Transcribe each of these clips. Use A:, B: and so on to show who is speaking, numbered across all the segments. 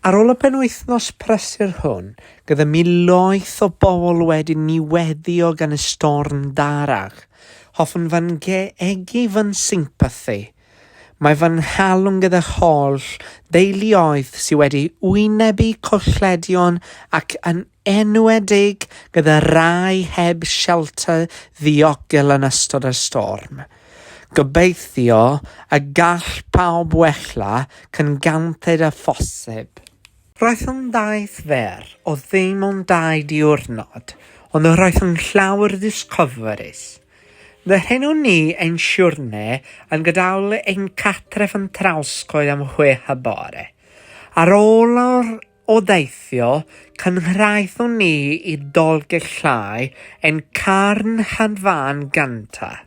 A: Ar ôl y penwythnos prysur hwn, gyda miloedd o bobl wedi niweddio gan y storm darach, hoffwn fy ngegu fy nsympathi. Mae fy nghalon gyda'r holl deuluoedd sydd wedi wynebu colledion ac yn enwedig gyda rhai heb shelter ddiogel yn ystod y storm. Gobeithio y gall pawb wella cyn gynted â phosib. Roedd yn daith fer o ddim ond dau diwrnod, ond roedd yn llawer ddisgofrus. Dyheuwn ni ein siwrne yn gadael ein cartref yn Trawscoed am chwech y bore. Ar ôl yr O deithio, cynghraethon ni i Dolgell Llai ein carnhad fan gynta'.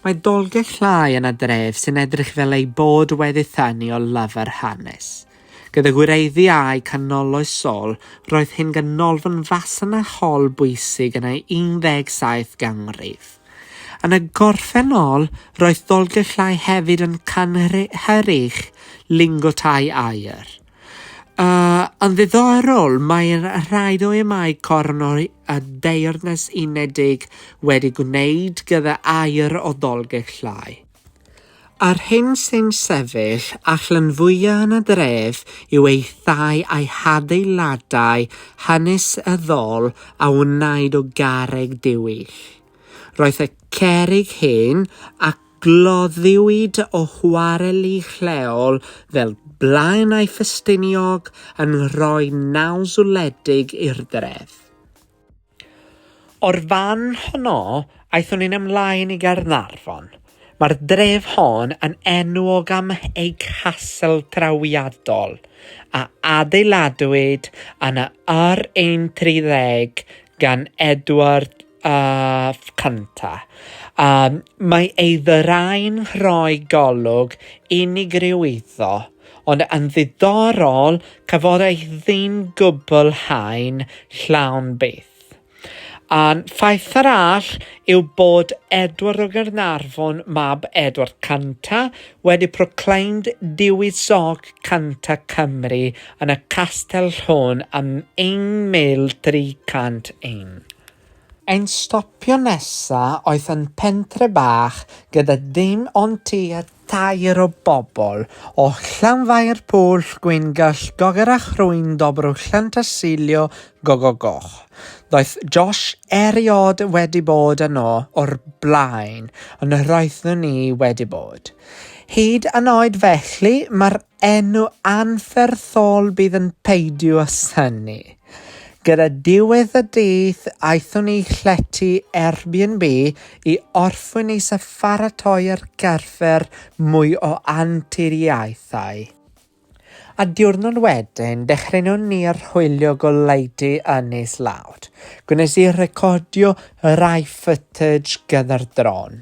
A: Mae Dolgell Llai yna dref sy'n edrych fel ei bod wedi thanu o lafar hanes. Gyda gwireddu â'i canoloesol, roedd hyn ganolfan fasnachol bwysig yn ei 17 ganrif. Yn y gorffennol, roedd Dolgell Llai hefyd yn cynhyrchu lingo tai aur. Uh, yn ddiddorol, mae'r rhai o'i mae corn o'r y deyrnas unedig wedi gwneud gyda air o ddolgellau. A'r hyn sy'n sefyll allan fwyaf yn y dref yw ei thai a'i hadeiladau hynys y ddol a wnaed o garreg diwyll. Roedd y cerig hyn a Gloddiwyd o chwareli lleol fel Blaenau Ffestiniog yn rhoi naws wledig i'r dref. O'r fan honno, aethon ni'n ymlaen i Gaernarfon. Mae'r dref hon yn enwog am ei castel trawiadol, a adeiladwyd yn y yr un 30 gan Edward Ff cynta. Yym, mae ei ddyrau'n rhoi golwg unigryw iddo, ond yn ddiddorol, cafodd ei ddim gwblhau'n llawn byth. Un ffaith arall yw bod Edward o Gaernarfon, mab Edward Cynta, wedi proclaimed Dewisog Canta Cymru yn y Castell hon ym 1301. Ein stopio nesa oedd yn pentre bach gyda dim ond tua tair o bobl, o Llanfair Pwll Gwyn Gyll Gogerach Rhwyn Dobrow Llantysilio Gogo Goch. Doedd Josh eriod wedi bod yno o'r blaen, ond roeddwn i wedi bod. Hyd yn oed felly, mae'r enw anferthol bydd yn peidio â synnu. Gyda diwedd y dydd, aethon ni llety Airbnb i orffwyn is a pharatoi'r carfer mwy o anturiaethau. A diwrnod wedyn, dechreunon ni archwilio goleudy yn is lawd. Gwnes i recordio rai footage gyda'r dron.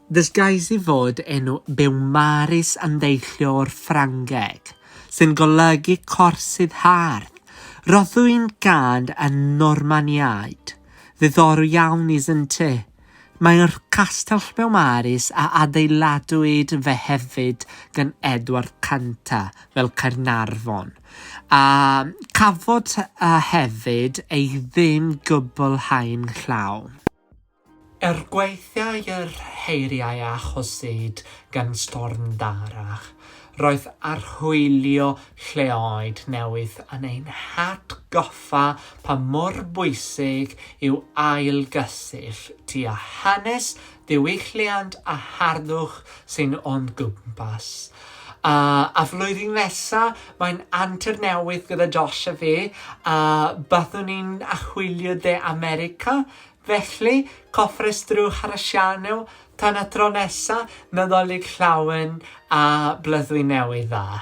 A: Ddysgais i fod enw Beaumaris yn deillio o'r Ffrangeg, sy'n golygu corsydd hardd. Roeddwn gand y Normaniaid. Ddiddorol iawn, isn't it? Mae'r Castell Beaumaris a adeiladwyd fe hefyd gan Edward Canta fel Caernarfon, a chafodd a hefyd ei ddim gwblhau'n llawn. Er gwaethiau yr heiriau a achosid gan Storm Darragh, roedd archwilio lleoedd newydd yn ein hatgoffa pa mor bwysig yw ailgysyll ti â hanes, diwylliant a harddwch sy'n o'n gwmpas. A a flwyddyn nesa, mae'n antur newydd gyda Josh a fi, a byddwn ni'n achwilio De America, Felly, cofrestrwch ar y sianel tan y tro nesa, Nadolig Llawen a Blyddwy Newydd Dda!